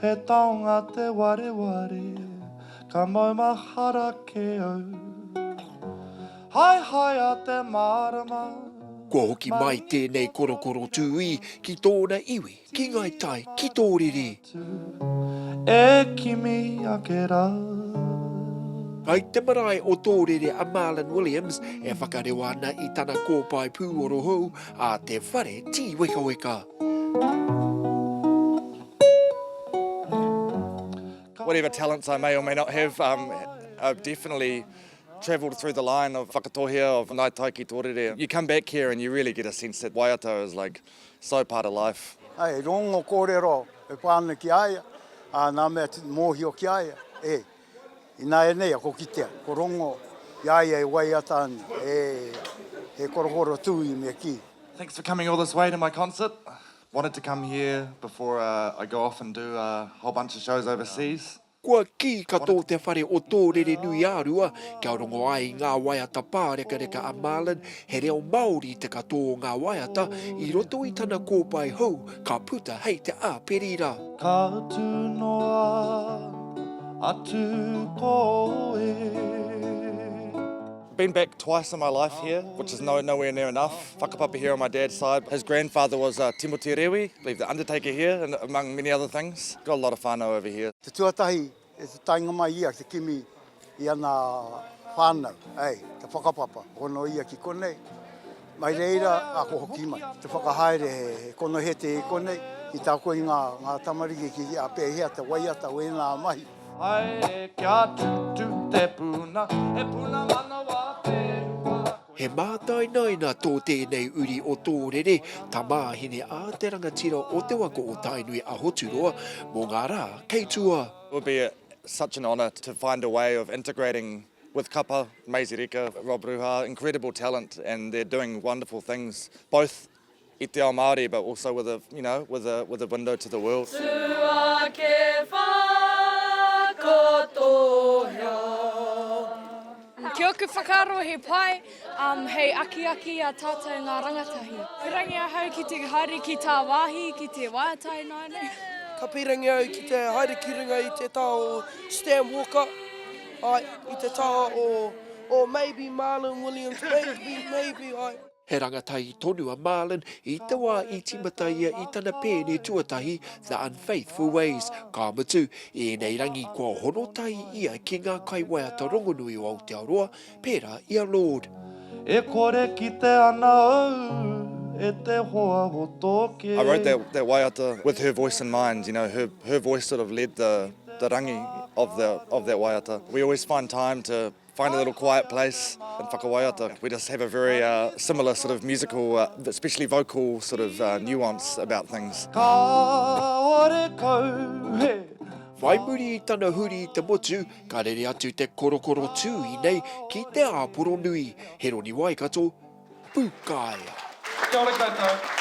He taonga te wareware, ka maumahara kē au. Haehaea te mārama. Kua hoki mai tēnei korokoro tūī ki tōna iwi, ki Ngai Tai, ki Tōrere. E kimi ake rā. Kai te marae o Tōrere a Marlon Williams e whakareo ana i tana kōpae pūoro hou a Te Whare Tīwekaweka. Whatever talents I may or may not have, um, I've definitely travelled through the line of Whakatohea, of Ngāi Tai ki Tōrere. You come back here and you really get a sense that waiata is like so part of life. Hei rongo kōrero e whā ana ki a ia, ā, nā mea mōhio ki a ia, e. Ināianei ako kitea, ko Rongo, i a ia e waiata ana, e, he korokoro tūī me kī. Thanks for coming all this way to my concert. Wanted to come here before uh, I go off and do a whole bunch of shows overseas. Kua kī katoa te whare o Tōrerenuiārua kia rongo ai i ngā waiata pārekareka a Marlon He reo Māori te katoa o ngā waiata i roto i tana kōpae hou ka puta hei te āperira. Ka tū noa atu koe. Been back twice in my life here which is no nowhere near enough whakapapa here on my dad's side his grandfather was a Timotī Rewi believe the undertaker here among many other things got a lot of whanau over here. Te tuatahi E te taenga mai ia te kimi i ana whanau, hei, te whakapapa, hono ia ki konei, mai reira ako hoki mai, te whakahaere he konohete i konei, ki te ako i nga tamariki ki a pehea te waiata o ena mahi. Haere kia tutu te puna, he puna manawa te rua. He mātainaina tō tēnei uri o Tōrere, tamāhine a te rangatira o te waka o Tainui a Hoturoa mō ngā rā kei tua. It would be such an honour to find a way of integrating with kapa, Maisey Rika, Rob Ruha, incredible talent and they're doing wonderful things both I te ao Māori, but also with a, you know, with a, with a window to the world. Tuake whakatohea. Ki oku whakaaro he pai, um, hei akiaki i a tātou ngā rangatahi. Pirangi ahau ki te haere ki tāwāhi, ki te wātai ināianei. Ka pirangi au ki te haere ki runga i te taha o Stan Walker, āe, i te taha o, o maybe Marlon Williams, maybe, maybe, āe. He rangatahi tonu a Marlin i te wā i tīmata ia i tana pēne tuatahi The Unfaithful Ways, ka mutu, i ēnei rangi kua hono tahi ia ki ngā kaiwaiata rongonui o Aotearoa, pērā i a Lord. E kore kite ana au e te hoa o tō kē. I wrote that that waiata with her voice in mind, you know, her her voice sort of led the the rangi of the of that waiata. We always find time to Find a little quiet place in Whakawaiata. We just have a very uh, similar sort of musical, uh, especially vocal sort of uh, nuance about things. Whai muri i tana huri i te motu, ka rere atu te korokoro tū i nei ki te āporo nui. He roni waikato, pūkaea. Kia ora koutou.